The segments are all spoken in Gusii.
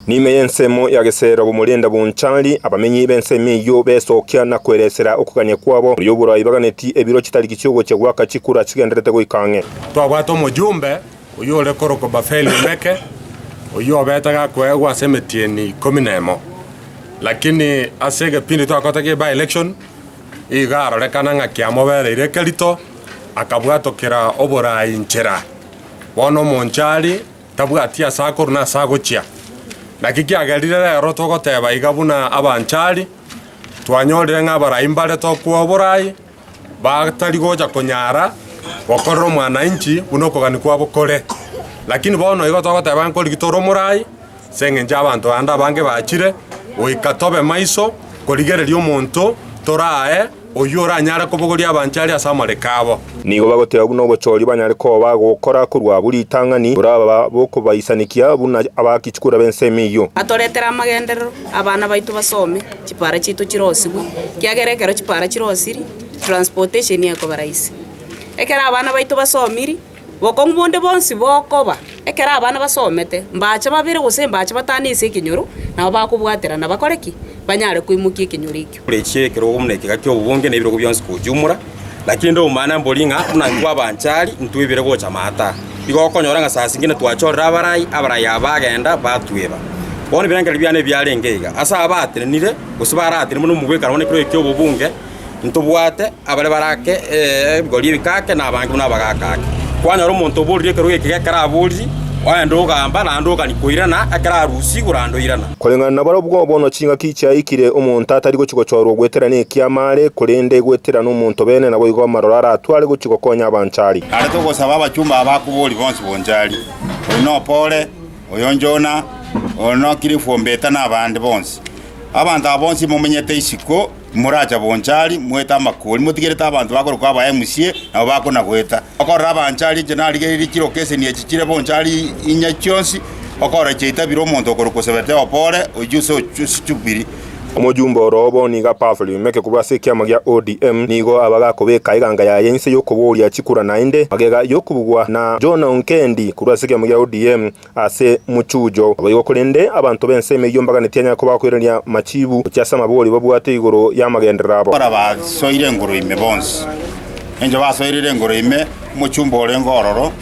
Ne'ime y'ensemo ya Gesera b'omorenda b'onchari, abamenyi b'ensemo eyio besokia na kweresera okogania kwabo, oria oborai baganeti ebiro chitariki chi'ogochia goaka chikura chigenderete goika ang'e. Twabwate omojumbe oyore korokwa Bafeli-Meke, oyio obete gakoegwa ase emetieni ikomi nemo, lakini ase egepindi twakotete gie by-election iga arorekana ng'a kiamobereire ekerito, akabwatokera oborai inchera. Bono omonchari Tabwati ase akorwa na ase agochia. Naki kiagera riria rero togoteba iga buna abanchari, twanyorire ng'a abarai mbare tokwa oborai, batari gocha konyara gokorera omwanainchi buna okogania kwabo kore. Lakini bono igo togoteba ng'a nkoriki tore omorai, ase engencho abanto ande abange bachire, goika tobe maiso korigereria omonto torae, Oyio oranyare kobogoria abanche are ase amariko abo. Nigo bagoteba buna obochoria banyare koba bagokora korwa abwo ritang'ani, boraba bokobaisanekia buna abakichukura b'ensemo eyio. Atoretere amagenderero, abana baito basome, chipara chiaito chirosigwe, ekiagera ekero chipara chirosiri, transportation ekoba rahisi. Ekero abana baito basomiri, Bokong'u bonde bonsi bokoba, ekero abana basomete, mbaache babere gose mbaache batano ase ekenyoro nabo bakobwaterana bakore ki? Banyare koimokia ekenyoro ekio. Korechia ekerogo buna eke gaki obobonge na ebirogo bionsi kochumora, lakini nde omomana mbori ng'a buna intwe abanchari intwe ibere gocha maata aa, igo okonyora ng'a saa zingine twachorire abarai, abarai aba bagenda batueba. Bono ebirengererio biane ebiarenge iga, ase abaatenenire gose baraatenenire buna omogwekano one ekero eki'obobunge, Ntobwate abare barake ebigori ebikake, na abange buna abagaka ake. Kwanyora omonto oborire ekerogo eke gekero aboriri, oende ogamba, naende ogania koirana, ekero arusia igoro aende oirana. Koreng'ana na barabwo, bono chingaki chiaikire, omonto atari gochia gochorwa ogweterana ekiama are, korende gweterana omontobene, naboigo amaroro aratware gochia gokonya abanchari. Narete ogosaba abachumba aba akobori bonsi bonchari, oyo nopore, oyo njona, oyo nokire efuombeta, na abande bonsi. Abanto aba bonsi momenyete isiko. Moracha bonchari, moete amakori, motigerete abanto bakorokwa abaemusie, nabo bakonagweta. Okorora abanchari inche narigereiri chiroka eseni echi chire bonchari inye chionsi, okorora chiaitabire omonto okorokwa osebete opo ore, oiche ase ochichubiri. Omoyumba oro obo niga Pavly Meke korwa ase ekiama gia ODM nigo abagakobeka eganga yaye inse yokoboria chikura naende magega yokobugwa na John Onkendi korwa ase ekiama gia ODM Ase mochuujo naboigo korende abanto b'ense emeyio mbaganetie anyare koba akoiraneria machiibu gochia ase amabori babwate igoro y'amagenderero abo. Ekero basoire engoro ime bonsi, encho basoirire engoro ime omochumba orenge ororo,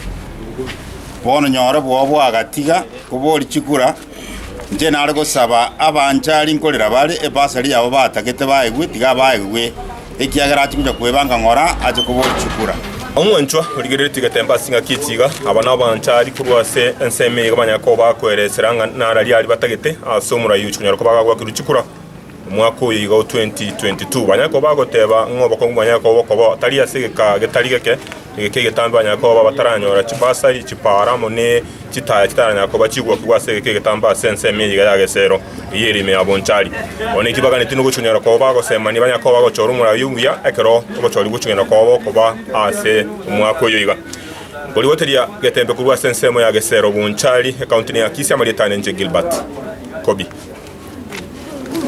bono nyore bwao bwagatiga kobori chikura, inche nare gosaba abanchari nkorera bare ebasari yabo batagete baegwe, tiga baegwe. ekiagera atingocha kweba anga ng'ora ache kobochukura. Omonchwa origereretie getembe ase engaki echi iga, aba nabaanchari korwa ase ensemo eyio banyare koba bakoeresera ng'a narari aria batagete ase omorai oyo chikonyara koba agagwa kiruchukura omwaka oyo iga o 2022. Banyare koba bagoteba ng'a obokongu bonyare koba okoba tari ase egeka getari geke, egeka egetambe banyare koba bataranyora chibasari, chipaara amo ne chitaya chitaranyara koba chigokigwa ase egeka egetambe ase ensemo eye iga ya gesero. Eyio ere ime ya bonchari. Bono inki baganeti nogochunyanera kwabo bagosemania banya koba agochora omoraia omuya, ekero ogochori gochunyanera kwabo okoba ase omwaka oyo iga. Nkorigoteria getembe korwa ase ensemo ya Gesero Bonchari, ekaunti ne Akisi, amarieta aane inche Gilbert Kobi.